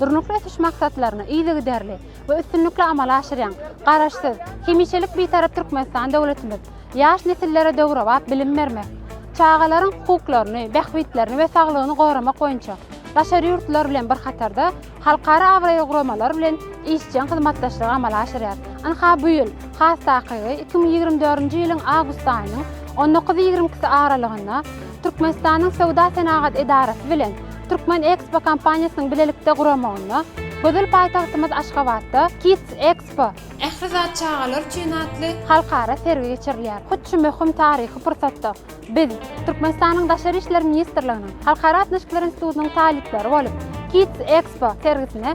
Durnukly ösüş maksatlaryny yzygiderli we üstünlikli amala aşyrýan Garaşsyz, hemişelik Bitarap Türkmenistan döwletimiz ýaş nesillere döwrebap bilim bermek, çagalaryň hukuklaryny, bähbitlerini we saglygyny goramak boýunça daşary ýurtlar bilen bir hatarda halkara abraýly guramalar bilen işjeň hyzmatdaşlygy amala aşyrýar. Ynha, bu ýyl, has takygy, iki müň ýigrimi dördünji ýylyň awgust aýynyň on dokuz-ýigrimkisi aralygynda Türkmenistanyň Söwda-senagat edarasy bilen Türkmen Ekspo kompaniýasynyň bilelikde guramagynda gözel paýtagtymyz Aşgabatda Kids Expo, Ähli zat çagalar üçin atly halkara sergi geçirilýär. Hut şu möhüm taryhy pursatda biz, Türkmenistanyň Daşary işler ministrliginiň Halkara gatnaşyklar institutynyň talyplary bolup, Kids Expo sergisine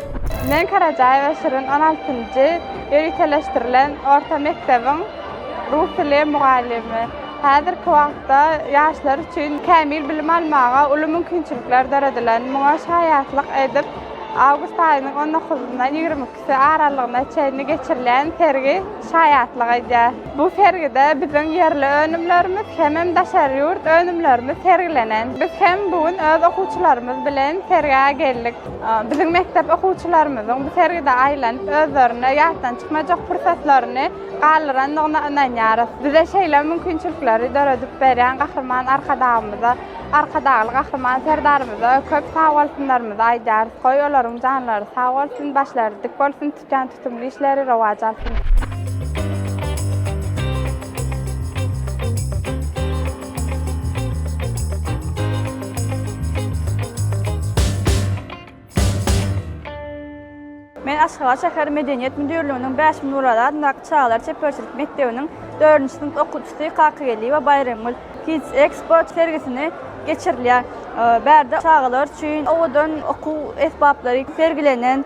Men Karajaýewa Şirin on altynjy ýöriteleşdirilen orta mekdebiň rus dili mugallymy. Häzirki wagtda ýaşlar üçin kämil bilim almaga uly mümkinçilikler döredilen. Muňa şaýatlyk edip, awgust aýynyň on dokuzyndan ýigrimi ikisi aralygyna çenli geçirilýän sergi şaýatlyk edýär. Bu sergide biziň ýerli önümlerimiz hemem daşary ýurt önümlerimiz sergilenen. Biz hem bu gün öz okuwçylarymyz bilen sergä geldik. Biziň mekdep okuwçylarymyzyň bu sergide aýlanyp, özlerine ýatdan çykmajak pursatlaryny galdyrandygyna ynanýarys. Bize şeýle mümkinçilikleri döredip berýän Gahryman Arkadagymyza, Arkadagly Gahryman Serdarymyza köp sagbolsunlarymyzy aýdýarys. Goý, olaryň janlary sag bolsun, başlary dik bolsun! Kän tutumly işleri rowaç alsyn. Men Aşgabat şäher Medeniýet müdirliginiň Bäşim Nuraly adyndaky çagalar çeperçilik mekdebiniň dördünji synp okuwçysy Kakygeldiýewa Baýramgül. Kids Expo sergisini geçirilýär. Bärde çagalar üçin owadan okuw esbaplary sergilenen.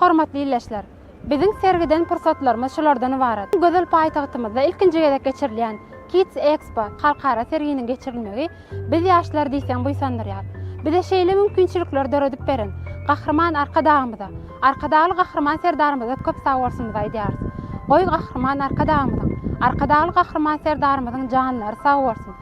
Hormatly ildeşler! Biziň sergiden pursatlarymyz şulardan ybarat. Gözel paýtagtymyzda ilkinji gezek geçirilýän Kids Expo halkara serginiň geçirilmegi biz ýaşlary diýseň buýsandyrýar. Bize şeýle mümkinçilikleri döredip beren Gahryman Arkadagymyza, Arkadagly Gahryman Serdarymyza köp sagbolsunymyzy aýdýarys. Goý, Gahryman Arkadagymyzyň, Arkadagly Gahryman Serdarymyzyň janlary sag bolsun!